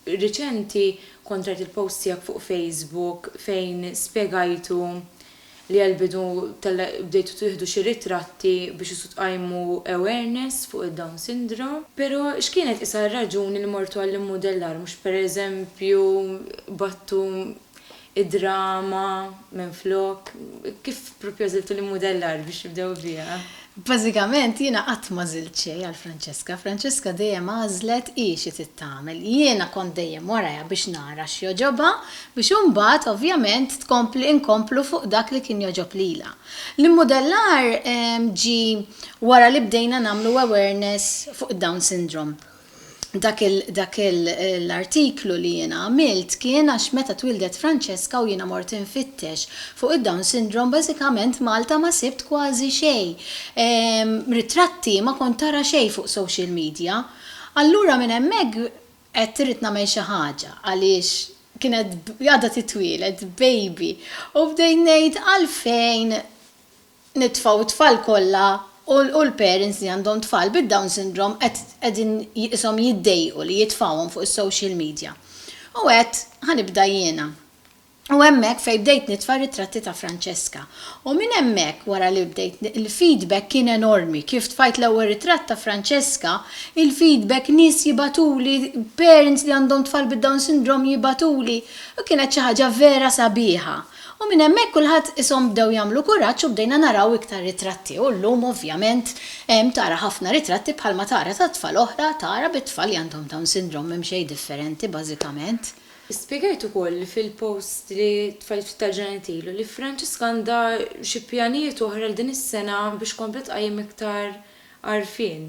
riċenti kont rajt il-post tiegħek fuq Facebook fejn spjegajtu li għall-bidu bdejtu tieħdu xi ritratti biex isu tqajmu awareness fuq id-Down Syndrome. Pero x'kienet isa' r-raġuni li mortu għall-immudellar mhux pereżempju battu id-drama minflok? Kif proprju għażiltu l-immudellar biex tibdew biha? Bażikament jiena qatt m'għażilt xejn għal Francesca. Francesca dejjem għażlet hi xi trid tagħmel. Jiena kont dejjem warajha biex nara x'jogħġobha biex imbagħad ovvjament tkompli inkomplu fuq dak li kien jogħġob lilha. L-immudellar ġie wara li bdejna nagħmlu awareness fuq id-Down Syndrome. dak l-artiklu li jiena għamilt kien għax meta twieldet Francesca u jiena mort infittex fuq id-Down Syndrome bażikament Malta ma sibt kważi xejn. Ritratti ma kont tara xejn fuq social media. Allura minn hemmhekk għedt irrid nagħmel xi ħaġa għaliex kienet għadha titwieled baby u bdejt ngħid għalfejn nitfa' u t-tfal kollha u l-parents li għandhom tfal bid-Down Syndrome qed qegħdin jiqishom jiddejqu li jitfgħuhom fuq is-social media. U għedt, ħa nibda jiena. U hemmhekk fejn bdejt nitfa' ritratti ta' Francesca. U minn hemmhekk wara li bdejt il-feedback kien enormi. Kif tfajt l-ewwel ritratt ta' Francesca, il-feedback nies jibgħatuli, parents li għandhom tfal bid-Down Syndrome jibgħatuli, u kienet xi ħaġa vera sabiħa. U minn hemmhekk kulħadd ishom bdew jagħmlu kuraġġ u bdejna naraw iktar ritratti u llum ovvjament hemm tara ħafna ritratti bħalma tara ta' tfal oħra tara bit-tfal li għandhom Down Syndrome m'hemm xejn differenti bażikament. Spjegajt ukoll fil-post li tfajt ftit tal-ġranet ilu li Franġiska għandha xi pjanijiet oħra għal din is-sena biex tkompli tqajjem iktar għarfien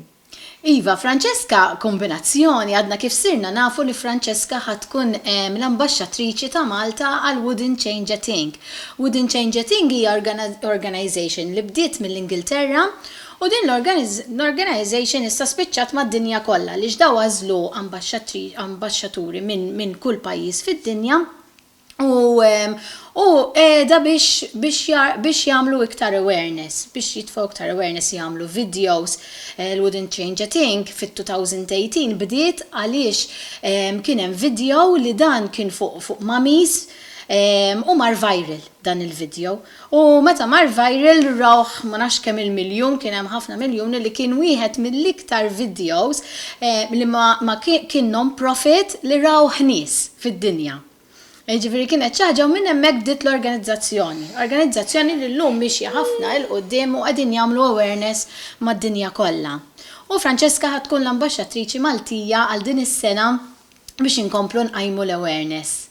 Iva, Francesca, kombinazzjoni, għadna kif sirna nafu li Francesca ħa tkun l-Ambaxxatriċi ta' Malta għal Wouldn't Change a Thing. Wouldn't Change a Thing hija organization li bdiet mill-Ingilterra u din l-organization issa spiċċat mad-dinja kollha għaliex daw għażlu ambaxxaturi minn kull pajjiż fid-dinja u u qiegħda biex biex biex jagħmlu iktar awareness, biex jitfgħu iktar awareness jagħmlu videos eh, l-Wouldn't Change a Thing fit-2018 bdiet għaliex ehm, kien hemm video li dan kien fuq fuq mamis ehm, u mar viral dan il-video. U meta mar viral rawh ma nafx kemm il-miljun, kien hemm ħafna miljuni li kien wieħed mill-iktar vidjows li ma kien non-profit li rawh nies fid-dinja. Jiġifieri kienet xi ħaġa u minn hemmhekk bdiet l-organizzazzjoni. Organizzazzjoni li llum mixja ħafna 'il quddiem u qegħdin jagħmlu awareness mad-dinja kollha. U Francesca ħa tkun l-ambaxxatriċi Maltija għal din is-sena biex inkomplu nqajmu l-awareness.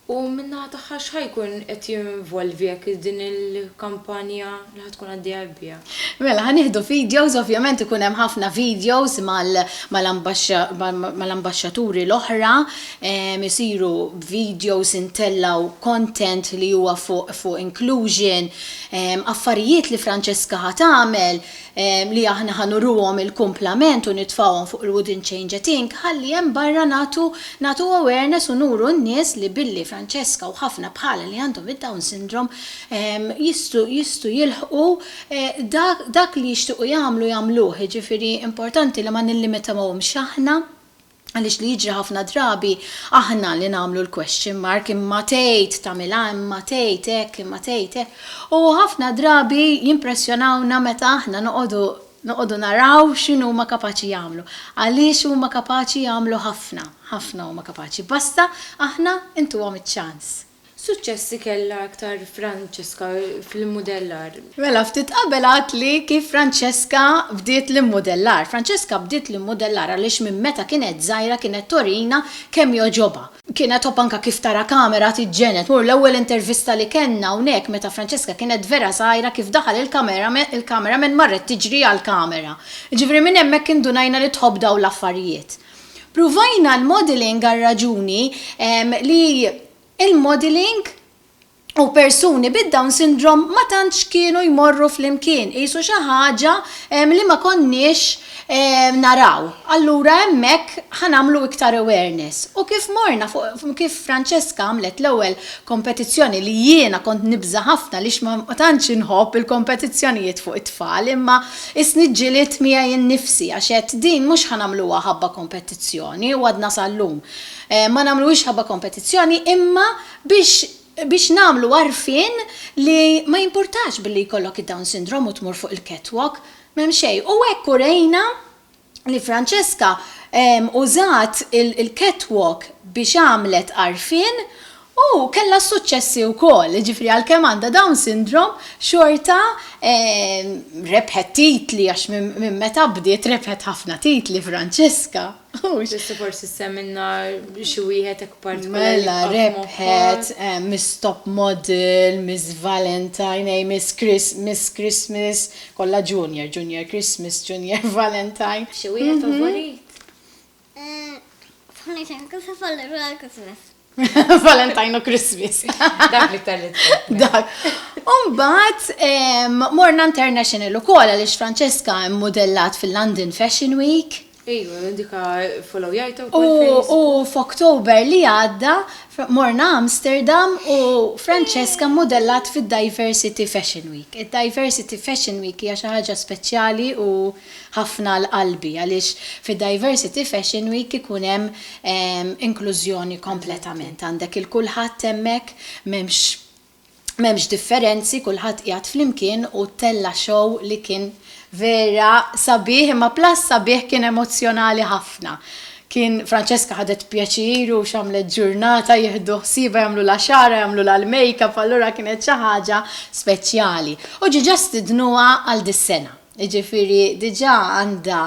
U min-naħa tagħha x'ħa jkun qed jinvolvi hekk din il-kampanja li ħa tkun għaddejja hekk biha? Mela ħa nieħdu videos, ovvjament ikun hemm ħafna videos mal-ambaxxaturi l-oħra, isiru videos intellgħu content li huwa fuq inclusion, affarijiet li Francesca ħa tagħmel, li aħna ħa nuruhom il-kumplament u nitfgħuhom fuq il-Wood in Change et Inc. Ħalli hemm barra nagħtu nagħtu awareness u nuru n-nies li billi Francesca u ħafna bħalha li għandhom id-Down Syndrome jistgħu jistgħu jilħqu dak dak li jixtiequ jagħmlu jagħmluh jiġifieri importanti li ma nillimitawhomx aħna Għaliex li jiġri ħafna drabi aħna li nagħmlu l-question mark imma tgħid tagħmilha imma tgħid hekk imma tgħid hekk. U ħafna drabi jimpressjonawna meta aħna noqogħdu noqogħdu naraw x'inhu huma kapaċi jagħmlu. Għaliex huma kapaċi jagħmlu ħafna, ħafna huma kapaċi. Basta aħna intuhom iċ-ċans. X'suċċessi kellha iktar Francesca fl-immudellar? Mela, ftit qabel għadtli kif Francesca bdiet l-immudellar. Francesca bdiet l-immudellar għaliex minn meta kienet żgħira kienet torina kemm jogħġobha. Kienet tħobb anke kif tara kamera tiġġened. Mur l-ewwel intervista li kellna hawnhekk meta Francesca kienet vera żgħira kif daħal il-cameraman marret tiġri għall-kamera. Jiġifieri minn hemmhekk indunajna li tħobb dawn l-affarijiet. Pruvajna l-modelling għar-raġuni li l-modelling u persuni bid-Down Syndrome ma tantx kienu jmorru flimkien, qisu xi ħaġa li ma konniex naraw. Allura hemmhekk ħa nagħmlu iktar awareness. U kif morna fuq, kif Francesca għamlet l-ewwel kompetizzjoni li jiena kont nibża' ħafna għaliex ma tantx inħobb il-kompetizzjonijiet fuq it-tfal imma Qisni ġġilidt miegħi innifsi għax għedt din mhux ħa nagħmluha ħabba kompetizzjoni u għadna sal-lum ma nagħmluhiex ħabba kompetizzjoni imma biex biex nagħmlu għarfien li ma jimpurtax billi jkollok id-Down Syndrome u tmur fuq il-catwalk, m'hemm xejn u hekk urejna li Francesca użat il-catwalk biex għamlet għarfien u kellha s-suċċessi wkoll, jiġifieri għalkemm għandha Down Syndrome xorta rebħet titli għax minn meta bdiet rebħet ħafna titli Francesca. Tista' forsi ssemmilna xi wieħed hekk partikolari? Mela rebħet Miss Top Model, Miss Valentine, Miss Christmas, Kollha junior, junior Christmas, junior Valentine. Xi wieħed favorit? F'ħamisa nkiseb Valentine u Christmas. Valentine u Christmas. Dak li tal Dak. Umbat, morna international u kola li Francesca modellat fil-London Fashion Week. Iva, dika followjajta u kol Facebook. U f'Oktober li għadda morna Amsterdam u Francesca mmudellat fid-Diversity Fashion Week. Id-Diversity Fashion Week hija xi ħaġa speċjali u ħafna għal qalbi għaliex fid-Diversity Fashion Week ikun hemm inklużjoni kompletament. Għandek il-kulħadd hemmhekk, m'hemmx M'hemmx differenzi kulħadd qiegħed flimkien u tella' show li kien vera sabiħ imma plus sabiħ kien emozzjonali ħafna. Kien Francesca ħadet pjaċir u x'għamlet ġurnata jieħdu ħsiebha jagħmlulha xagħarha jagħmlulha l-makeup allura kienet xi ħaġa speċjali. U ġiġa stidnuha għal dis-sena. Jiġifieri diġà għandha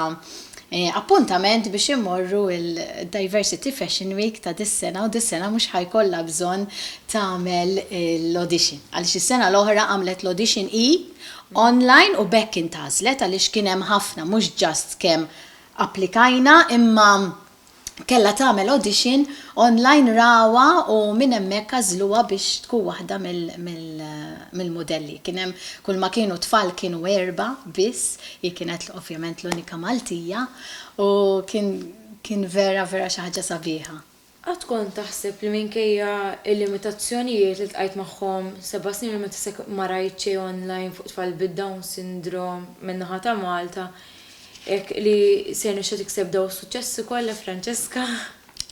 appuntament biex immorru l-Diversity Fashion Week ta' dis-sena u dis-sena mhux ħa jkollha bżonn tagħmel l-audition. Għaliex is-sena l-oħra għamlet l-audition hi online u b'hekk intgħażlet għaliex kien hemm ħafna mhux just kemm applikajna imma kellha tagħmel audition online ragħwa u minn hemmhekk għażluha biex tkun waħda mill-mudelli. Kien hemm kulma kienu tfal kienu erbgħa biss, hi kienet ovvjament l-unika Maltija u kien kien vera vera xi ħaġa sabiħa. Qatt kont taħseb li minkejja l-limitazzjonijiet li ltqajt magħhom seba' snin u meta sa ma rajt xejn online fuq tfal bid-Down Syndrome min-naħa ta' Malta, Hekk li se jirnexxha tikseb daw is-suċċessi kollha Francesca?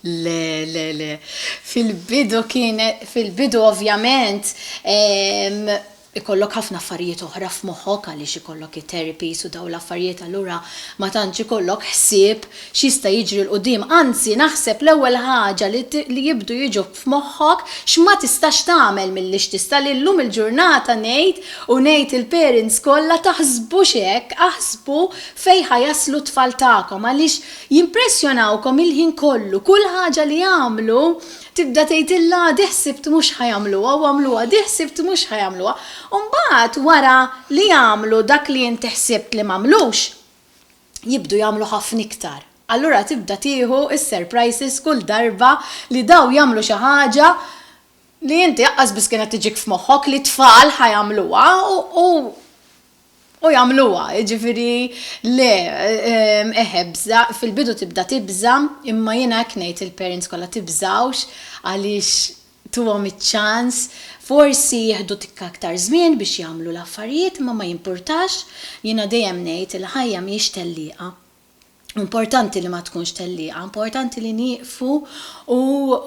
Le, le, le. Fil-bidu kien, fil-bidu ovvjament, ehm, ikollok ħafna affarijiet oħra f'moħħok għaliex ikollok it-therapies u daw l-affarijiet allura ma tantx ikollok ħsieb x'jista' jiġri 'l quddiem. Anzi, naħseb l-ewwel ħaġa li jibdu jiġu f'moħħok x'ma tistax tagħmel milli x'tista' li llum il-ġurnata ngħid u ngħid il-parents kollha taħsbux hekk aħsbu fejn ħa jaslu t-tfal tagħkom għaliex jimpressjonawkom il-ħin kollu kull ħaġa li jagħmlu tibda tgħidilha għadih ħsibt mhux ħa jagħmluha u għamluha għadih ħsibt mhux ħa jagħmluha u mbagħad wara li jagħmlu dak li inti ħsibt li m'għamlux jibdu jagħmlu ħafna iktar. Allura tibda tieħu s-surprises kull darba li daw jagħmlu xi ħaġa li inti aqqas biss kienet tiġik f'moħħok li t-tfal ħa jagħmluha u u jagħmluha. Jiġifieri le, eħ ebża', fil-bidu tibda tibża' imma jiena hekk ngħid lill-parents kollha tibżgħux għaliex Tuhom iċ-ċans, forsi jieħdu tikka aktar żmien biex jagħmlu l-affarijiet imma ma jimpurtax, jiena dejjem ngħid il-ħajja mhijiex tellieqa. U importanti li ma tkunx tellieqa, importanti li nieqfu u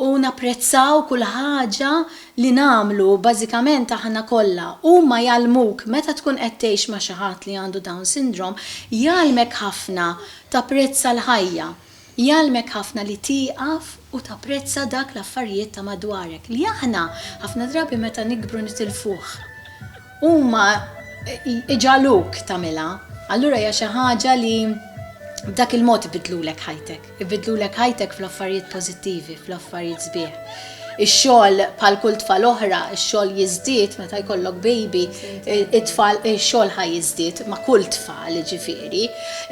u napprezzaw kull ħaġa li nagħmlu, bażikament aħna kollha. Huma jgħallmuk, meta tkun qed tgħix ma' xi ħadd li għandu Down Syndrome, jgħallmek ħafna tapprezza l-ħajja. Jgħallmek ħafna li tieqaf u tapprezza dak l-affarijiet ta' madwarek li aħna ħafna drabi meta nikbru nitilfuh. Huma jġagħluk tagħmilha. Allura hija xi ħaġa li b'dak il-mod ibiddlulek ħajtek. Ibiddlulek ħajtek fl-affarijiet pożittivi, fl-affarijiet sbieħ. Ix-xogħol bħal kull tfal oħra, ix-xogħol jiżdied meta jkollok baby, it-tfal ix-xogħol ħa jiżdied ma' kull tfal jiġifieri.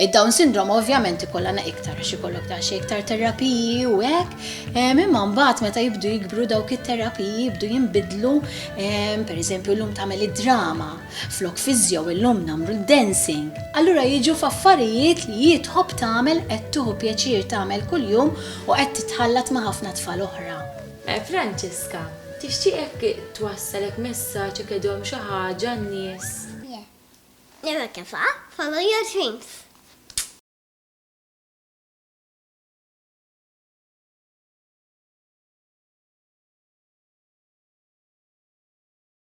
Id-Down syndrome ovvjament ikollha na iktar għax ikollok daqsxejn iktar terapiji u hekk, ehm, imma mbagħad meta jibdu jikbru dawk it-terapiji jibdu jinbidlu, ehm, pereżempju llum tagħmel id-drama, Flok fiżjo illum nagħmlu d-dancing. Allura jiġu f'affarijiet li hi tħobb tagħmel, qed tieħu pjaċir tagħmel kuljum u qed titħallat ma' ħafna tfal oħra. Franċiska, tixtieq hekk twassal hekk messaġġ hekk idhom xi ħaġa għan-nies? Le. Never give up, follow your dreams.